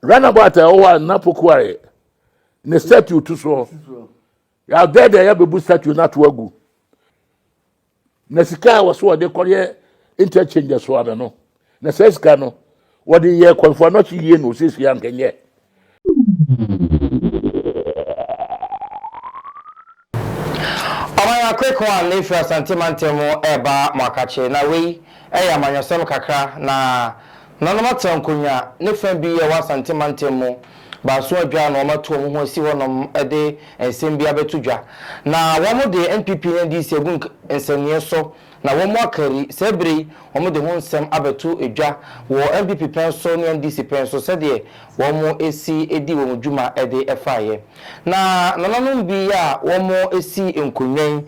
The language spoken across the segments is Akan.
runabout a ɛwɔ hɔ a nna poku ayɛ ne statue to soɔ yɛadɛ deɛ yɛbɛbu statue no ato agu na sika a wɔso wɔde kɔyɛ interchange so ano no na saa sika no wɔde yɛ kwanfoɔ anɔkye yie na ɔsiesie ankɛnyɛ Ɔman akoekow a na efi Asante mantam mu reba Moakakye. Na wei yɛ amanyɔsɛm kakra na Nanom Atseha Nkonwa ne fã bi a ɛwɔ Asante mantam mu baason adwaa na wɔatu wɔn ho asi hɔnom de nsɛm bi abɛto dwa. Na wɔde NPP ne NDC agu nsɛnneɛ so Na wɔakari, saa berɛ yi wɔde ho nsɛm abɛto dwa wɔ NPP pɛn so ne NDC pɛn so sɛdeɛ wɔsi di wɔn dwuma de faeɛ. Na nananom bi a wɔsi nkonnwa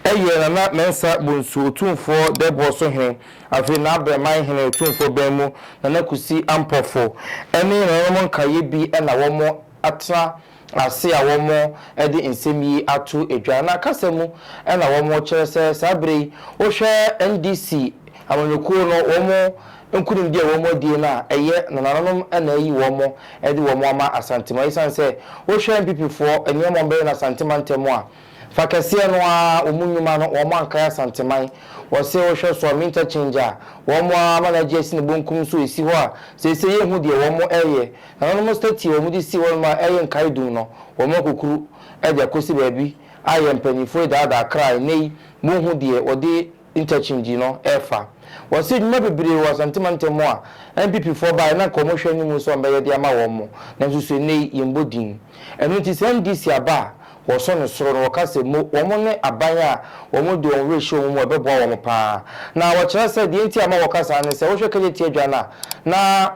yi yɛ Nana Mensah Bonsu Otumfoɔ Dɛbɔ so hene, afei N'abrɛman hene Otumfoɔ Bɛn mu Nana Kusi Ampɔfo ne nananom nkaeɛ bi na wɔatena ase a wɔde nsɛm yi ato dwa na kasa mu na wɔkyerɛ sɛ saa bere yi wohwɛ NDC amanyɔkuo no wɔn nkunimdie a wɔn adie no a ɛyɛ nananonom na ayi wɔn de wɔn ama Asantema esiane sɛ wohwɛ NPP foɔ nneɛma wɔbɛyɛ no Asante mantam a Fa kɛseɛ no ara wɔn nnwuma no wɔn Ankae Asanteman. Wɔse wohwɛ so a me interchange a wɔn ara ama no agye asi ne bonkum nso ɛsi hɔ a seisei yɛnhu deɛ wɔn reyɛ. Nananom statie a wɔn de sii hɔnom a ɛyɛ nkae dum no wɔn akukuru de akɔsi baabi a yɛn mpaninfoɔ daadaa kra a ɛnnɛ yi monhu deɛ wɔde Interchange no refa. Wɔasi adwuma bebree wɔ Asante mantam mu a NPP foɔ baeɛ no anka wɔn hwɛ anim sɛ wɔbɛyɛ de ama wɔn, nanso so ɛnnɛ yi yɛmmɔ din. Ɛno nti saa NDC aba a wɔsɔ no soro no wɔka sɛ mo wɔn ne aban a wɔn de wɔn werɛ hyɛ wɔn mu a ɛbɛboa wɔn pa ara. Na wɔkyerɛ sɛ deɛ nti a ɛma wɔka saa ne sɛ wohwɛ Kagye Tiadwa no a na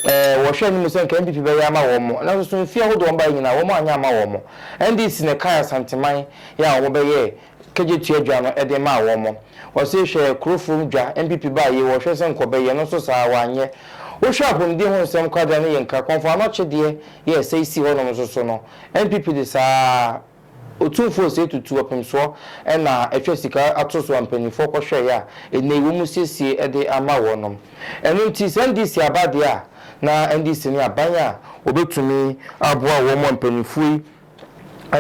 eh wɔhwɛ anim sɛ anka NPP bɛyɛ ama wɔn, nanso so mfeɛ ahodoɔ a wɔbaeɛ nyinaa wɔn anyɛ amma wɔn. NDC na ɛkae Asanteman yɛ a wɔbɛyɛɛ kegye tua dwa no de maa wɔn. Ɔse hwɛ kuro fuom dwa NPP baa yie wɔhwɛ sɛ nkɔbɛ yɛ no nso saa wanyɛ. Wohwɛ apomuden ho nsɛm kwadra no yɛ nkra kɔmfo ano kyedeɛ yɛ sɛ esi hɔ nom nso so no NPP de saa otumfoɔ sei tutu ɔpemsoɔ ɛna atwa sika ato so a mpaninfoɔ kɔhwɛeɛ a ɛnei wɔn siesie de ama wɔn nom. Ɛno nti sɛ NDC aba deɛ a na NDC ne aban a wɔbɛtumi aboa wɔn a mpaninfoɔ yi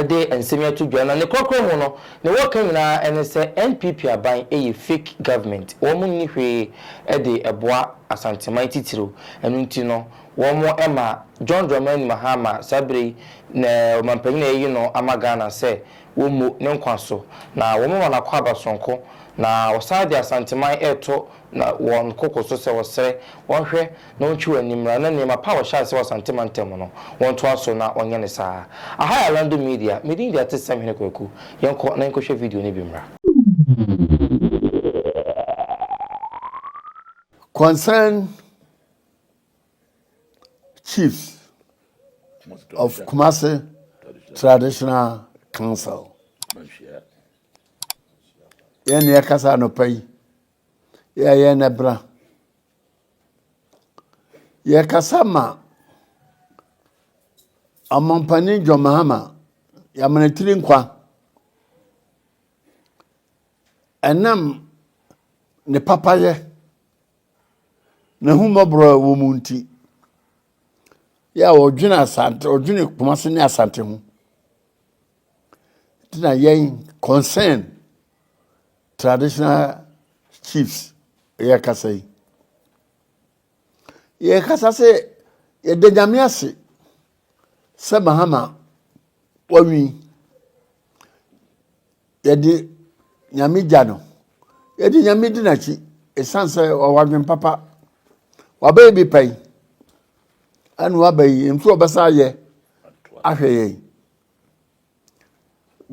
de nsɛm yi ato dwa na ne korakora mu no ne wɔka nyinaa ɛne sɛ NPP aban ɛyɛ fake government wɔn nni hwee ɛde ɛboa Asanteman titiriw ɛno nti no wɔn ɛma John Dramani Mahama saa bere yi ne ɔmanpanyin a yɛayi no ama Ghana sɛ wɔn mmu ne nkwa so na wɔn ma no akwaaba sononko na wɔsan de Asanteman ɛreto na wɔn koko so sɛ wɔsrɛ wɔn hwɛ na ɔntwe wɔn ani mmra na nneɛma pa a wɔhyɛ ase wɔ Asante mantam mu no, wɔntoa so na wɔnyɛ no saa. Aha yɛ Alando Media, me din de Atesɛm Hene Kwaku. Yɛnkɔ na yɛnkɔhwɛ video no bi mmra. Concerned Chiefs of Kumasi Traditional Council, yɛn na yɛkasa anɔpa yi, yɛayɛ na bra Yɛrekasa ma Ɔmampanin John Mahama, Yamanatiri Nkwa, ɛnam ne papayɛ, n'ahummɔborɔ a ɛwɔ mu nti, yɛ a ɔdwene Asante, ɔdwene Kumasi ne Asante ho. Nti na yɛn concern traditional chiefs yɛkasa yi yɛkasa sɛ yɛda nyame ase sɛ mahama wawi yɛde nyame gya no yɛde nyame di n'akyi ɛsiane sɛ ɔwɔ adwen papa wabɛyɛ bi pɛn ɛna waba yi nso ɔbɛsa ayɛ ahwɛ yɛn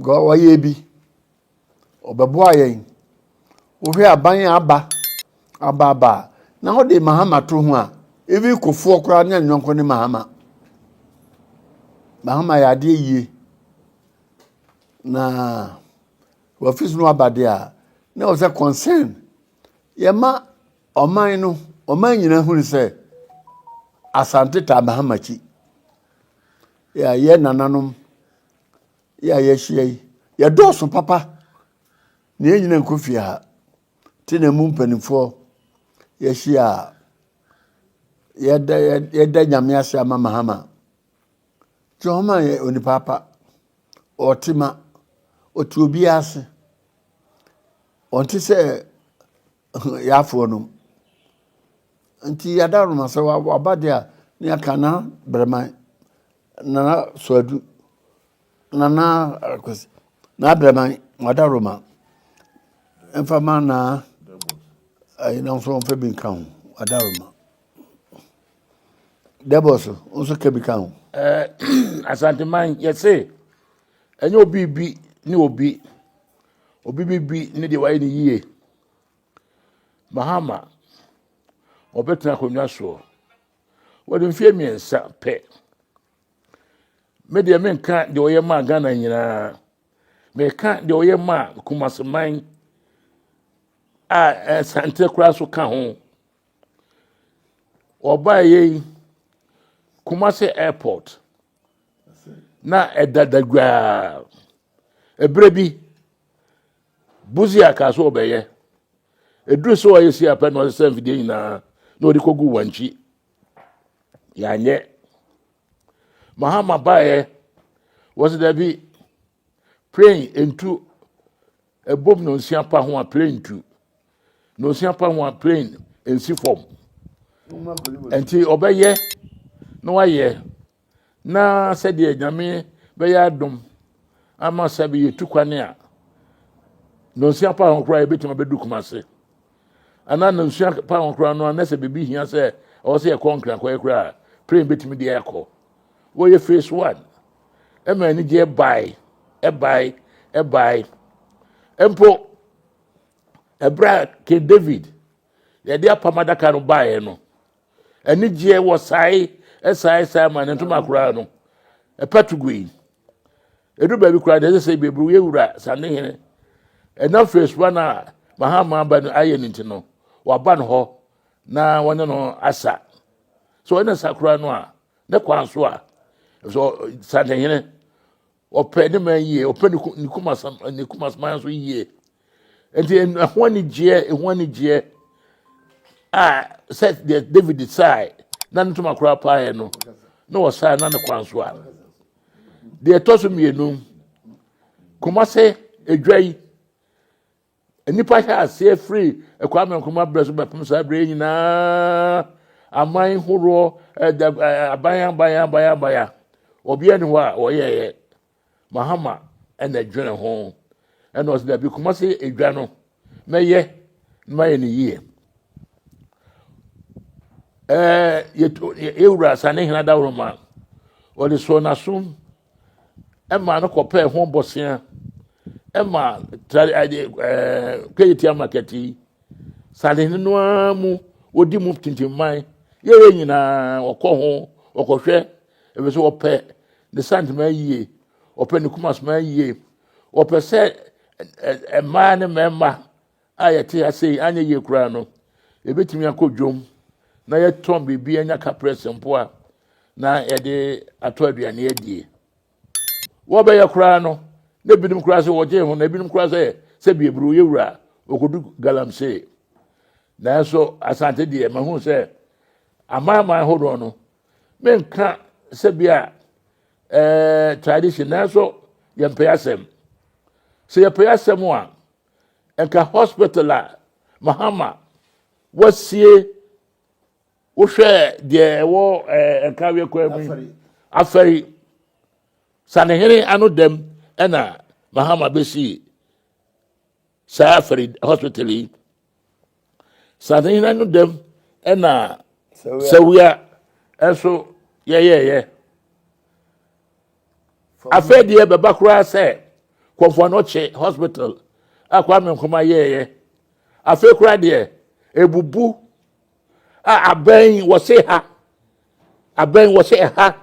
Wɔyɛɛ bi, wɔbɛboaa yɛn. Wohwɛ aban a aba aba aba a, na wɔde Mahama to ho a, even Kufuor koraa ne ne yɔnko ne Mahama. Mahama yɛ adeɛ yie. Na wɔfis no aba deɛ a, na wɔ sɛ concern. Yɛma ɔman no, ɔman nyinaa hunu sɛ Asante taa Mahama akyi. Yeah, yɛ nananom. Yeah, yɛahyia yi. Yɛdɔɔso papa. Na yɛn nyina nkɔ fie ha. Te na mu mpanimfoɔ yɛahyia a yɛda yɛda nyame ase ama mahama. Jehoma yɛ onipa pa. Ɔte ma. Ɔte obiara ase. Ɔnte sɛ Yɛafoɔ nom. Nti yɛada nom asɛ waba deɛ a ne yɛaka na brɛman nana soadu nana akwasi na brɛman wada roma mfa ma na ayi na nso mfa bi nka ho wada roma dɛbɔs nso ka bi ka ho. asanteman yɛse ɛnyɛ obi bi ne obi. Obi biribi ne deɛ wayɛ no yie. Mahama, ɔbɛtena akonnwa soɔ. Wɔde mfeɛ mmiɛnsa pɛ. Me deɛ menka deɛ ɔyɛ maa Ghana nyinaa. Meka deɛ ɔyɛ maa Kumaseman a Asante eh, koraa so ka ho. Ɔbaeɛ yi, Kumase Airport. na ɛda dagwaa ɛberɛ bi buzia kaa sɛ ɔbɛyɛ ɛduru sɛ ɔyɛ si apɛ na ɔde sɛ mfidie nyinaa na ɔde kɔgu wankyi yɛanyɛ mahama baeɛ wɔsɛ da bi plane ntu Ɛbom nnɔnsia pa ho a plane ntu. Nnɔnsia pa ho a plane nsi fam. Nti ɔbɛyɛ na wayɛ na sɛdeɛ nyame bɛyɛ adom ama sɛ bɛyɛ tu kwane a nnɔnsia pa ho koraa yɛbɛtumi abɛdu kuma ase anaa nnɔnsia pa ho koraa no anɛ sɛ biribi hia sɛ ɔwɔ sɛ yɛkɔ nkrakɔɛ koraa plane bɛtumi deɛ akɔ Wɔyɛ phase one. Ɛma anigyeɛ bae, ɛbae, ɛbae. Mpo, ɛberɛ a King David yɛde apam adaka no baeɛ no, anigyeɛ wɔ sae, ɛsae, ɛsae ma ne ntoma koraa no, ɛpa to gui. Ɛdu baabi koraa deɛ ɛsɛ sɛ bɛburu yɛ wura sanehene. Ɛnam phase one a mahama aba no ayɛ no nti no, waba no hɔ. na wɔne no asa sɛ ɔyɛ ne sa koraa no a ne kwan so a ɛsɛ santehene ɔpɛ ne man yie ɔpɛ ne kumasam ne kumasman so yie nti ɛho anigyeɛ ɛho anigyeɛ a sɛ deɛ david sae na ne ntoma koraa paeɛ no na ɔsae na ne kwan so a deɛ ɛtɔ so mmienu kumase adwa yi Nnipa hyɛ aseɛ firi Kwame Nkrumah berɛ so bɛpem saa berɛ nyinaa aman horoɔ aban aban aban aban obiara ni hɔ a wɔyɛɛyɛ mahama ɛna dwene ho ɛna ɔsɛ dabi kuma se edwa no mɛyɛ na mayɛ no yie ɛɛ yɛwura sane hena daworo ma ɔde soɔ n'asom ɛma no kɔpɛɛ ho bɔsea ɛma tari ɛde ɛɛ kɛyitia market yi sadehene no ara mu wɔdi mu tintinman yɛyɛ nyinaa ɔkɔ ho ɔkɔhwɛ ebi so ɔpɛ ne santoma yie ɔpɛ ne kumasoma yie ɔpɛ sɛ ɛɛ mmaa ne mmarima a yɛte ase yi anyɛ yie koraa no, yɛbɛtumi akɔ dwom na yɛtɔn biribi anya kaprɛs mpo a na yɛde atɔ aduane adie. Wɔbɛyɛ koraa no, na ebinom koraa sɛ wɔgye ho, na ebinom koraa sɛ sɛ bieburo yɛ wura a, ɔkɔdu galamsey. Nanso Asante deɛ mahu sɛ amanaman hodoɔ no, menka sɛ bi a eh, tradition nanso yɛmpɛ asɛm. Sɛ yɛpɛ asɛm a, Nka hospital a Mahama wasie wohwɛ deɛ ɛwɔ ɛɛ nka awie kwan mu afɛri sanehene ano dɛm ɛna Mahama bɛsi saa afɛri hospital yi. Saadhene no dɛm ɛna sawia ɛso yɛyɛyɛ. Afei deɛ bɛba koraa sɛ kɔmfoɔ no kye hospital a Kwame Nkrumah yɛɛyɛ. Afei koraa deɛ ebubu a abɛn wɔse ha abɛn wɔse ɛha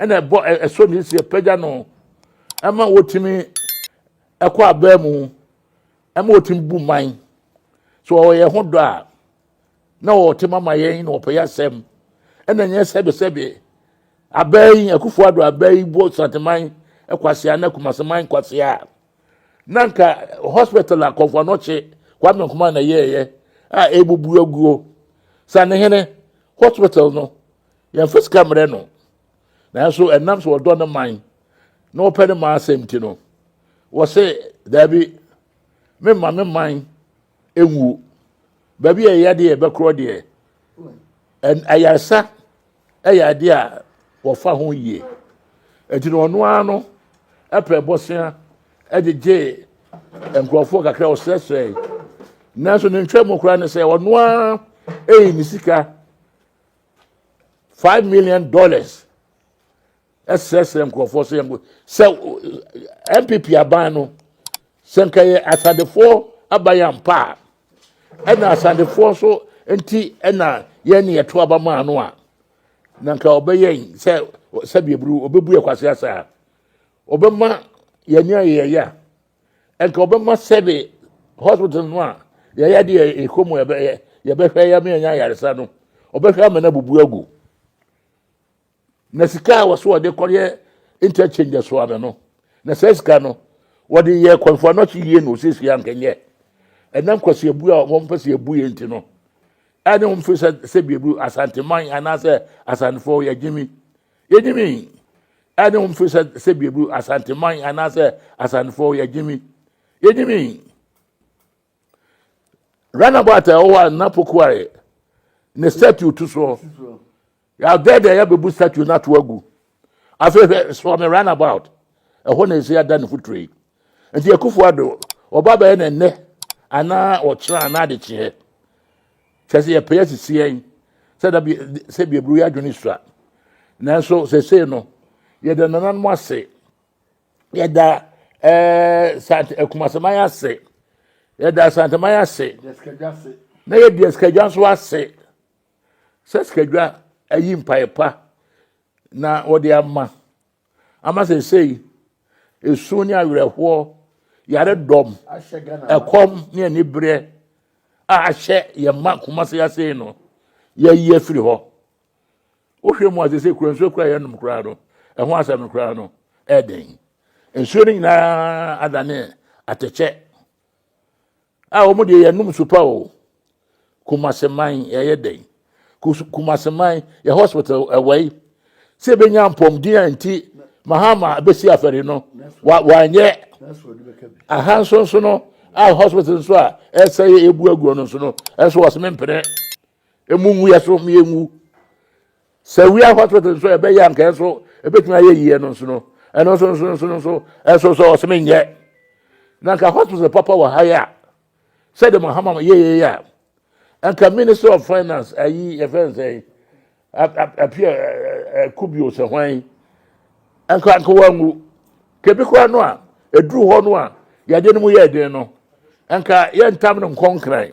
ɛna ɛbɔ ɛso ne si ɛpagya no ɛma wɔtumi ɛkɔ abɛn mu. ɛma ɔtumi bu man so ɔwɔ yɛn ho dɔ a na ɔte mama yɛn na ɔpɛ yɛ asɛm ɛna nyɛ sɛbesɛbe abɛɛ yi akufo ado abɛɛ yi bɔ santeman kwasia na kumaseman kwasia na nka hospital a kɔfo anɔkye kwame nkoma na yɛɛyɛ a ɛbubu aguo sanehene hospital no yɛmfa sika mmerɛ no nanso ɛnam sɛ wɔdɔ ne man na wɔpɛ ne man asɛm ti no wɔse daabi memma me man ɛnwuo baabi a ɛyɛ deɛ ɛbɛkorɔ deɛ ayaresa ɛyɛ adeɛ a wɔfa ho yie ɛti no ɔno ara no ɛpɛ bɔsea ɛgyegye nkurɔfoɔ kakra ɔsrɛsrɛ nanso ne ntwa mu koraa ne sɛ ɔno ara ɛyi ne sika five million dollars ɛsrɛsrɛ nkurɔfoɔ sɛ yɛnko sɛ npp aban no sɛ nka yɛ asadefoɔ aban ampa a ɛna asadefoɔ so nti ɛna yɛn ne yɛto aba maa no a na nka ɔbɛyɛ sɛ sɛdeɛ buru ɔbɛbu yɛ kwase asa a ɔbɛma yɛn ne ayɛyɛ a ɛnka ɔbɛma sɛde hospital no a yɛyɛ de ɛkɔ mu ɛbɛyɛ yɛbɛhwɛ yɛ meɛnya ayaresa no ɔbɛhwɛ ama no abubu agu na sika a wɔso ɔde kɔyɛ interchange so ano no na saa sika no wɔde yɛ kwanfoɔ no akyi yie na ɔsiesie ankɛnyɛ ɛnam kwasi abu a wɔn mpɛ sɛ abu yɛ nti no ɛne wɔn fi sɛ sɛ biebu asanteman anaasɛ asantefoɔ yɛgyimi Yɛgyimi ɛne wɔn firi sɛ sɛ biebu asanteman anaasɛ asantefoɔ yɛgyimi yɛgyimi runabout a ɛwɔ hɔ a nna pokuare ne statue to soɔ yɛagɛ deɛ yɛbɛbu statue no ato agu afei hwɛ soɔ me runabout ɛhɔ na ɛsi ada ne foturo yi nti akufo ado ɔba bɛyɛ ne nnɛ anaa ɔkyerɛ anaa de kyeɛ Kyerɛ sɛ yɛpɛ asisi yɛn sɛ da bi sɛ bi aburo yɛ adwene sua nanso sɛsei no yɛda nananom ase yɛda ɛɛ eh, sant akumasaman eh, ase yɛda asanteman ase na yɛdi asikadwa nso ase sɛ sikadwa ayi mpaeɛ pa na wɔde ama. ama seesei esu ne awerɛhoɔ yaredɔm ɛkɔm ne anibereɛ a ahyɛ yɛn mma kumase ase no yɛayi afiri hɔ wohwɛ mu a seesei kura nsuo kura yɛnom koraa no ɛho asɛm no koraa no ɛden nsuo no nyinaa adane atɛkyɛ Ah wɔn deɛ yɛnom nsu pa o. Kumase man yɛyɛ dɛn? Kumase man yɛ hospital ɛwɔ yi sɛ ebɛnya mpɔmden a nti Mahama bɛsi afɛre no wanyɛ aha nso nso no a hospital nso a ɛsɛ yɛ ebu aguo no nso no ɛnso wɔsɛ mempene Emu ngu yɛ so, mmea ngu. Sɛ wia hospital nso ɛbɛyɛ anka ɛnso ɛbɛtumi ayɛ yie no nso no, ɛno nso nso nso nso ɛnso nso ɔsɛmɛ nyɛ. Na nka hospital papa wɔ ha yɛ a, sɛdeɛ mo hama yɛ yɛ yɛ a, nka ministry of finance ayi yɛfɛ nsɛn apia kubio sɛ hwan nka nka wangu kebi koraa no a ɛduru hɔ no a yɛde no mu yɛ den no nka yɛntam no nkɔnkran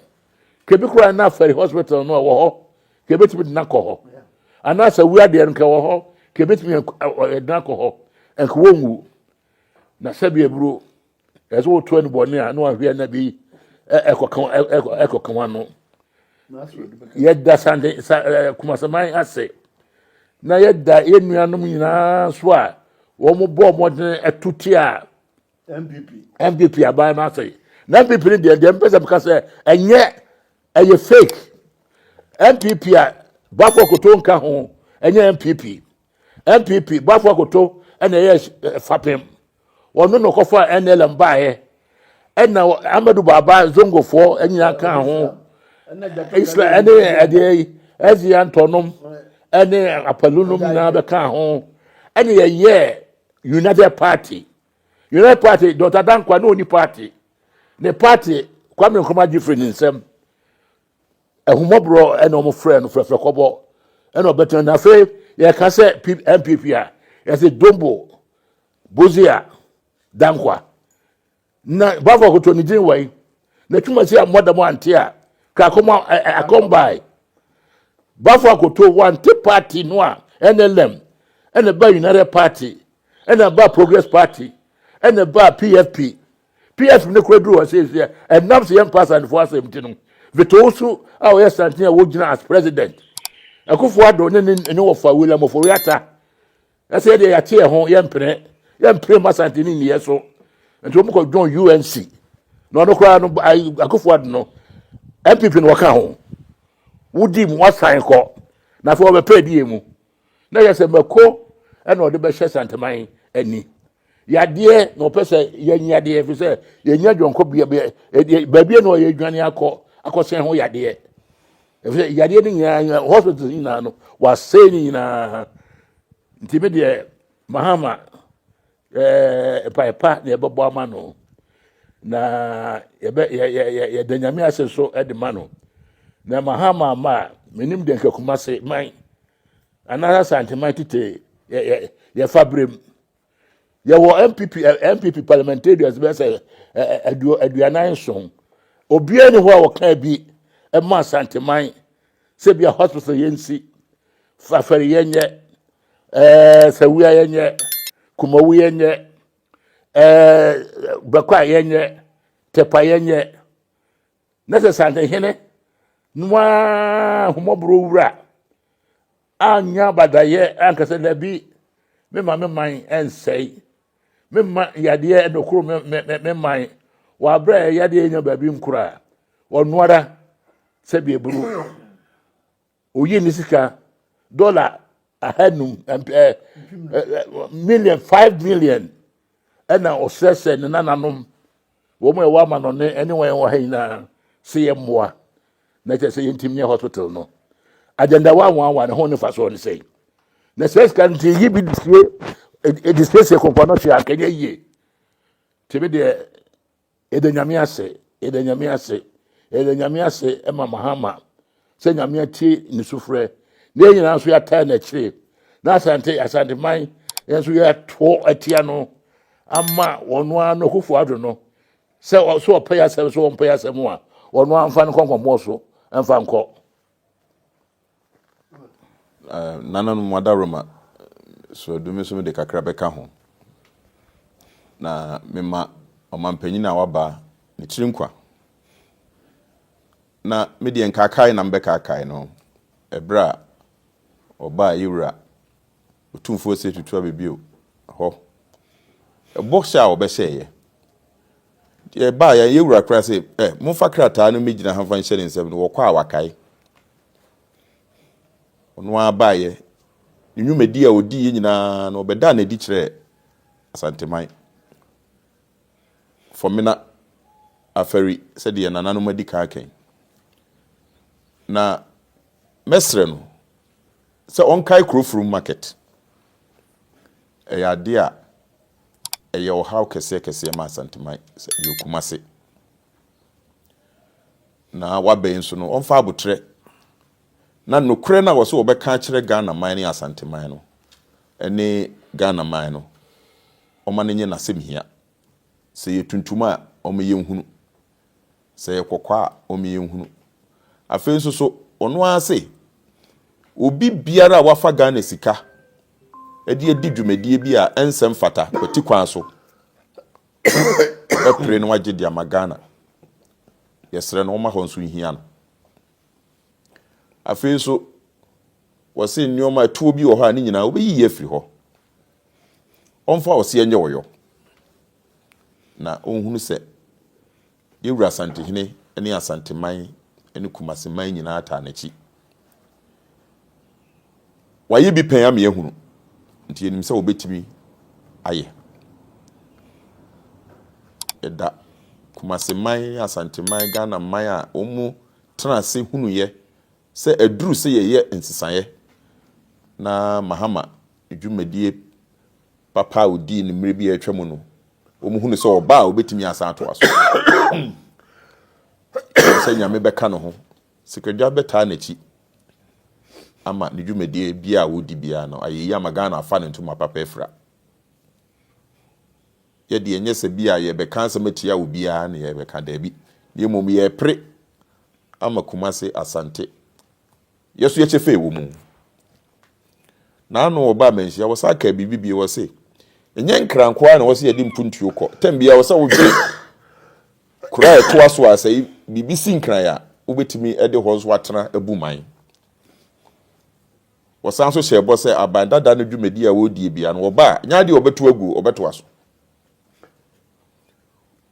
ka ebi koraa na afɛre hospital no ɛwɔ hɔ ka ebetumi de n'akɔ hɔ anaasɛ wia deɛ no ka ɛwɔ hɔ ka ebetumi ɛde n'akɔ hɔ nka wɔn nwu na sɛbi eburo ɛsɛ wɔtu ɛnu bɔ ne a na wɔn ahwɛ na bi ɛkɔkan ɛkɔkan wɔn ano yɛda sande sa ɛɛ kumasaman ase na yɛda yɛn nuanom nyinaa so a wɔn bɔ wɔn de ɛtu ti a. npp npp aban no asɛe na npp no deɛ deɛ mpɛ sɛ meka sɛ ɛnyɛ ɛyɛ fake npp a bafo akoto nka ho ɛnyɛ npp npp bafo akoto ɛna ɛyɛ eh, fapem wɔn no na ɔkɔfa nlm baeɛ ɛna amadu baaba zongofoɔ nyinaa ka ho isla ɛne ɛdeɛ yi ɛzi antɔnom ɛne apalunom nyinaa bɛka ho ɛna yɛyɛ united party. United Party Dɔkta Dankwa ne ɔni party ne party Kwame Nkrumah gye firi ne nsam ahumɔborɔ ɛna wɔn frɛ no fɛfɛ kɔbɔ ɛna ɔbɛtena na afei yɛka sɛ NPP a yɛsɛ Dombo Bozia Dankwa na bafo akoto ne din wɔ yi na twuma si a mmɔda mu ante a kakɔma akɔmbae bafo akoto wante party no a NLM ɛna ba United Party ɛna ɛbaa progress party ɛna ɛbaa pfp pfp ne kora duru hɔ sɛ sɛ ɛnam sɛ yɛmpa asantefoɔ asɛm nti no vetoo so a ɔyɛ santen a wɔgyina as president ɛkofoɔ adɔ ne ne ne wɔfa william ɔfɔwe ata ɛsɛ yɛdeɛ yɛate yɛ ho yɛmpene yɛmpene ma asante ne nniyɛ so nti wɔn kɔ dwon unc na ɔno koraa no akofoɔ ado no mpp no wɔka ho wodi mu wasan kɔ na afei wɔbɛpɛ adiyɛ mu na yɛ sɛ mako ɛna ɔde bɛhyɛ santeman ani yadeɛ na ɔpɛ sɛ yɛn yadeɛ fi sɛ yɛn nya dwɔnkɔ bia bia ɛdeɛ baabi na ɔyɛ dwane akɔ akɔsɛn ho yadeɛ ɛfɛ yadeɛ no nyinaa hospital nyinaa no wasɛn ne nyinaa nti mi deɛ mahama Ɛɛ, mpae pa na yɛbɛbɔ ama no, na yɛbɛ yɛ yɛ yɛ yɛda nyame ase so de ma no. Na ɛma ha ma ama a menim deɛ nka kuma se man anaasɛ santeman tete yɛ yɛ yɛfa berem. Yɛwɔ MPP MPP parliamentarians bɛyɛ sɛ aduo aduanan nson. Obiara ni hɔ a wɔka bi ɛma santeman sɛ bi a hospital yɛnsi fafɛre yɛnyɛ Ɛɛ wia yɛ nyɛ kumawu yɛ nyɛ ɛɛ bɛkɔ a yɛ nyɛ tɛpa yɛ nyɛ na sɛ santehene noa homɔborɔ wura anya badayɛ ankasa dabi mema me man ɛnsɛe mema yadeɛ ɛbɛkoro me, me, me, me man wɔabrɛ a yadeɛ nya baabi nkora ɔnoara sɛdeɛ buru Oyi ne sika dɔla ahanum mpɛ million five million ɛna ɔsrɛ sɛ ne nananom wɔn a ɛwɔ ama no ne ɛne wɔn wɔ ha nyinaa sɛ yɛ mmoa na kyerɛ sɛ yɛntim nyɛ hospital no agenda wa wɔn awa ne ho ne fa so ne sɛ na sɛ sika nti yi bi disie edisiesie kɔnkɔn no hyɛ akɛnyɛ yie tebe deɛ Yɛda Nyame ase, yɛda Nyame ase, yɛda Nyame ase ma Mahama sɛ Nyame atie ne sufrɛ na yɛn nyinaa nso yɛataa n'akyire na Asante Asanteman yɛn nso yɛatoɔ atia no ama ɔno ara no Akufo Addo no sɛ ɔ- sɛ ɔpɛ yɛ asɛm sɛ ɔmpɛ yɛ asɛm a ɔno ara mfa no nkɔ nkɔmmɔɔ so mfa nkɔ Nananom adaworoma sraadu me nso mede kakra bɛka ho. Na mema ɔmampanyin a waba ne tiri nkwa. Na me deɛ nkaakae na mebɛkaakae no ɛberɛ a ɔbaa yɛwura Otumfoɔ se tutu abɛ bio hɔ. Ɛbɔ hyɛ a wɔbɛhyɛeɛ. Deɛ ɛbaa yɛn, yɛn wura koraa se, ɛ, momfa krataa no mmɛgyina ha mfa nhyɛ ne nsam no, wɔkɔ a wakae. Ɔno ara baeɛ. Ne nnwumadi a ɔdiiɛ nyinaa no, ɔbɛdaa no adi kyerɛɛ Asanteman, Fɔmena, Afari, sɛdeɛ yɛn nananom adi kan aka yi. Na mɛsrɛ no, sɛ ɔnkae Kurofrom Market. Ɛyɛ adeɛ a ɛyɛ ɔhaw kɛseɛ kɛseɛ ma Asanteman, sɛ ɛyɛ Kumase. Na waba yi nso no, ɔmfa aboterɛ na nokorɛ no a wɔsɛ wɔbɛka akyerɛ Ghanaman ne Asanteman no ne Ghanaman no, ɔma no nyɛ n'asɛmhia. Sɛ ɛyɛ tuntum a, ɔma yɛnhunu. Sɛ ɛyɛ kɔkɔɔ a, ɔma yɛhunu. Afei nso so, ɔno ara se, Obi biara a wafa Ghana sika de adi dwumadie bi a ɛnsɛ mfata kwati kwan so, ɔbɛpere na wagye de ama Ghana. Yɛsrɛ no ɔmma hɔ nso nhia no. Afei nso, wɔse nneɛma atuo bi wɔ hɔ a ne nyinaa wobɛyiyi afiri hɔ. Ɔmfa ɔseɛ nyɛ ɔyɔ. na ɔnhunu sɛ yɛn wura Asantehene ne Asanteman ne Kumaseman nyinaa taa n'akyi. Wɔayɛ bi pɛn ama yɛahunu, nti yɛnim sɛ wɔbɛtumi ayɛ. Yɛda Kumaseman, Asanteman, Ghana man a wɔn tena ase hunuiɛ Sɛ ɛduru sɛ yɛyɛ nsesaeɛ na Mahama dwumadie papa a ɔdii no mmerɛ bi a atwa mu no, wɔn hunu sɛ ɔba a ɔbɛtumi asan atoa so. Ɛwɔ sɛ Nyame bɛka ne ho. Sikadwa bɛtaa n'akyi ama ne dwumadie biara a ɔdi biara no ayɛ yie ama Ghana afa ne ntoma papa afira. Yɛdeɛ ɛnyɛ sɛ bi a yɛbɛka asɛm atia obiara na yɛbɛka, daabi, na mmom yɛpere ama Kumase Asante yɛ so yɛkyɛ fɛ wɔ mu. Naano ɔbaa manhyia wɔ saa kaa biribi bie wɔ se ɛnyɛ nkra nko ara na wɔ se yɛde mpuntuo kɔ tɛm bia wɔ sɛ wodwe kura a ɛtoa so a sɛ biribi si nkran a wobɛtumi de hɔ nso atena abu man. Wɔsan nso hyɛ ɛbɔ sɛ aban dada no dwumadi a wɔredie bia no wɔba a nyɛ adeɛ wɔbɛto aguo wɔbɛtoa so.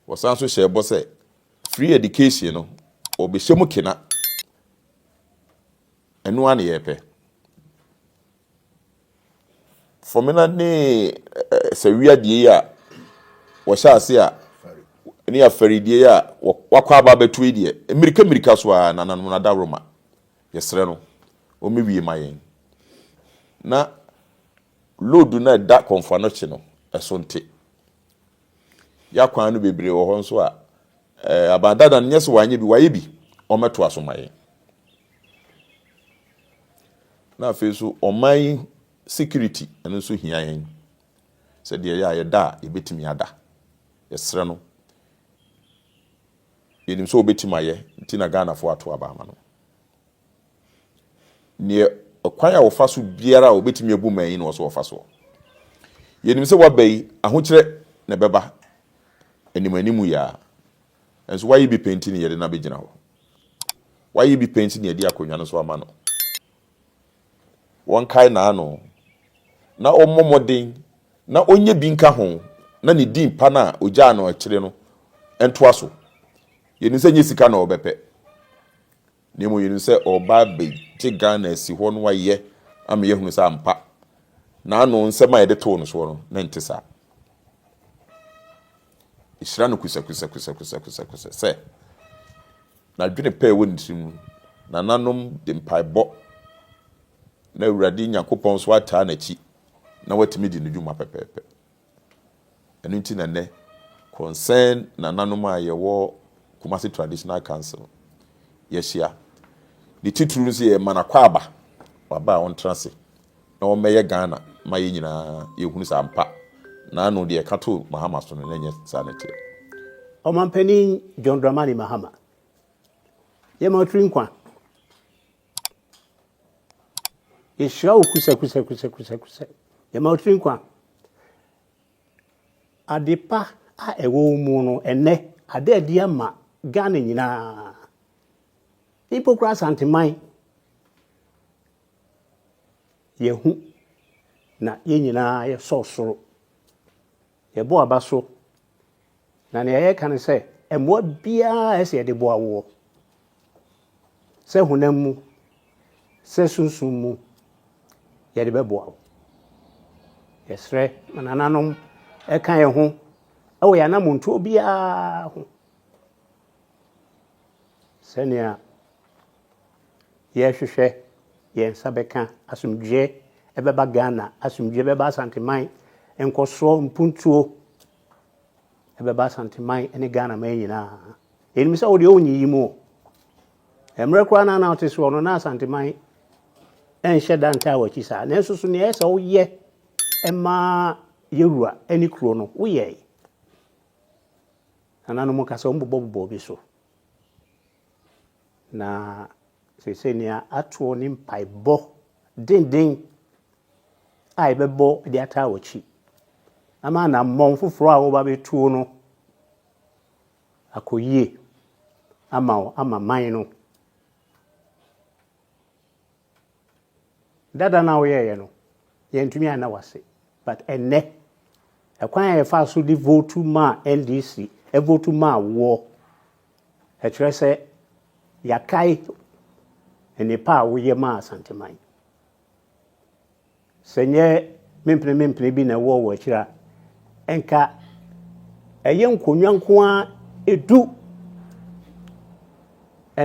Wɔsan nso hyɛ ɛbɔ sɛ Free education no wɔbɛhyɛ mu kena. Ɛno ara na yɛpɛ. Fɔmena ne sawia die yi a wɔhyɛ ase a ne afari die yi a wakɔ aba abɛto yi deɛ mmirika mmirika so a nananom no adaworo ma yɛsrɛ no wɔmɛwie ma yɛn na load no a ɛda kɔnfoano kye no ɛso nte. Y'akwan no bebree wɔ hɔ nso a ɛɛ aban dada no nyɛ sɛ wanyɛ bi wayɛ bi ɔmɛtoa so ma yɛn. Na afei so ɔman security ɛno nso hia yɛn sɛ deɛ yɛ a yɛda a yɛbɛtumi ada yɛsrɛ no yɛnim sɛ ɔbɛtumi ayɛ nti na Ghanafoɔ ato aba ama no. Neɛ ɔkwan a wɔfa so biara a wɔbɛtumi abu mmɛn yi na wɔsɛ wɔfa soɔ. Yɛnim sɛ waba yi, ahokyerɛ na ɛbɛba anim anim yi ara, nso wayɛ bi pɛ nti na yɛde no abɛgyina hɔ. Wayɛ bi pɛ nti na yɛde akonnwa no so ama no. Wɔnkae n'ano, na wɔmmɔ mmɔden, na ɔnyɛ bi nka ho, na ne din pa no a ɔgyaa no akyire no ntoa so. Yɛnim sɛ nyɛ sika na wɔbɛpɛ. Na mmom yɛnim sɛ ɔreba abɛgye Ghana asi hɔ na wayɛ ama yɛahunu sɛ ampa n'ano nsɛm a yɛde too no soɔ no, na ɛnte saa. Ɛhyira no kusakusakusakusakusa sɛ n'adwene pɛ ɛwɔ ne tirim no, nananom de mpaebɔ na Awurade Nyankopɔn nso ataa n'akyi na watumi di ne dwuma pɛpɛɛpɛ. Ɛno nti na nnɛ, Krɔnsɛn nananom a yɛwɔ Kumasi Traditional Council, yɛahyia. Ne titiriw no sɛ yɛrema no akwaaba, waba a ɔntra ase na ɔmmɛyɛ Ghana ma yɛn nyinaa yɛhunu sɛ ampa, n'ano deɛ ɛka too Mahama so no, na ɛnyɛ saa na ɛteɛ. Ɔmampanin John Dramani Mahama, yɛma ɔtiri nkwa Yɛhyira wo kusɛkusɛkusɛkusɛkusɛ. Yɛma wo tiri nkwa. Ade pa a ɛwɔ wo mu no, ɛnɛ ada adi ama Ghana nyinaa. Mpo koraa Asanteman. Yɛhu na yɛn nyinaa yɛsɔ soro. Yɛbɔ aba so. Na nea yɛka ne sɛ, mmoa biara a ɛsɛ yɛde boa woɔ, sɛ honam mu, sɛ sunsum mu, yɛde bɛboa wo. Yɛsrɛ ma nananom ɛka yɛn ho wɔ yɛn anammɔntuo biara ho sɛnea yɛhwehwɛ yɛn nsa bɛka asomdwoeɛ ɛbɛba Ghana, asomdwoeɛ bɛba Asanteman, nkɔsoɔ, mpuntuo, ɛbɛba Asante man ne Ghana man nyinaa. Yɛnim sɛ wo deɛ wonyi yi mu o. Mmerɛ koraa no na wote soɔ no na Asante man ɛnhyɛ da ntaa w'akyi saa. Nanso so nea ɛyɛ sɛ woyɛ ɛmaa yɛwura ne kuro no woyɛe. Nananom ka sɛ wɔbobɔbobɔ obi so. Na seesei nea atoɔ ne mpaebɔ denden a yɛbɛbɔ de ataa w'akyi ama anammɔn foforɔ a wɔba bɛtuo no akɔ yie ama wo ama man no. Dada no a woyɛeɛ no, yɛntumi anna wo ase. But ɛnnɛ, ɛkwan a yɛfaa so de votu maa NDC, ɛvotu maa woɔ. Ɛkyerɛ sɛ yɛakae nnepa a woyɛ maa Asanteman. Sɛ ɛnyɛ mempenemempene bi na ɛwɔ wɔ akyiri a, ɛnka ɛyɛ nkonnwa nko ara du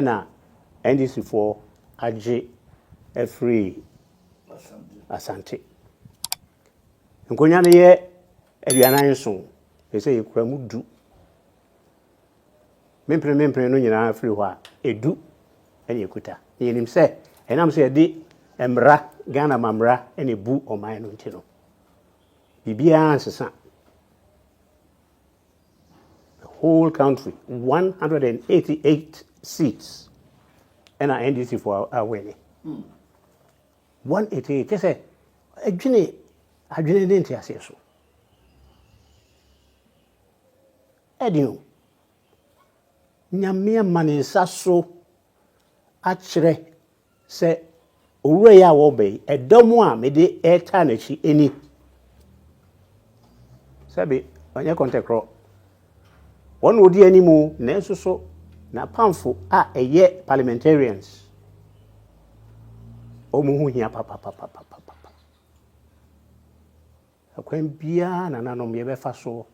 na NDCfoɔ agye afiri Asante. Nkonnwa no yɛ aduanan nson, ɛsɛ sɛ yɛkura mu du. me mpenemempene no nyinaa firi hɔ a, edu na ekuta. Na yɛnim sɛ ɛnam sɛ yɛde mmara, Ghana mammara na ebu ɔman no nti no, biribiara nsesa. The whole country, 188 seats ɛna NDC fo awɛne. 188, kyɛ sɛ adwene adwene ne nteaseɛ so. Ɛne o. Nyame ama ne nsa so akyerɛ sɛ owura yi a wɔreba yi, ɛdɔm a mede retaa n'akyi ni. Sɛbe ɔnyɛ kɔntɛkorɔ. Wɔn na wɔdi anim o, nanso so n'apamfo a ɛyɛ parliamentarians, wɔn ho hia papapapapapa. Ɛkwan biara a nananom yɛbɛfa so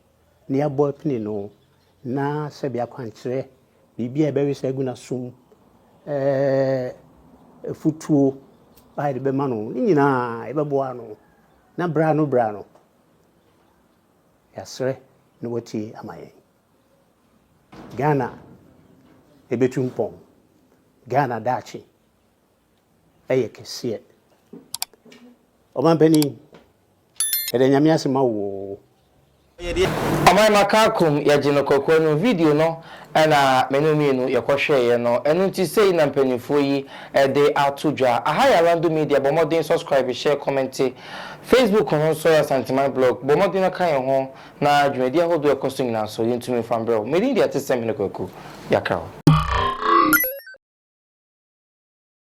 na yɛabɔ apini no, na sɛbi akwankyerɛ, biribi a yɛbɛwe sɛ agu n'asom, afutuo a yɛde bɛma no, ne nyinaa yɛbɛboa no na berɛ ano berɛ ano yɛasrɛ na watie ama yɛn. Ghana ɛbɛtu mpɔn. Ghana daakye. ɛyɛ kɛseɛ. Ɔmanpanin, yɛda Nyame ase ma wo oo. Ɔman Makakum yɛgye no kɔkɔ no video no na me ne wo mmienu yɛkɔhwɛeɛ no. Ɛno nti sei na mpanimfoɔ yi de ato dwa. Aha yɛ Alando Media, bɔ mmɔden subscribe, share, comment. Facebook no nso yɛ Asanteman Blog, bɔ mmɔden na ka yɛn ho na dwumadi ahodoɔ a ɛkɔ so nyinaa nso yɛntumi mfa mbrɛ wo. Medin de Atesɛm Hene Kwaku, Yɛakra wo.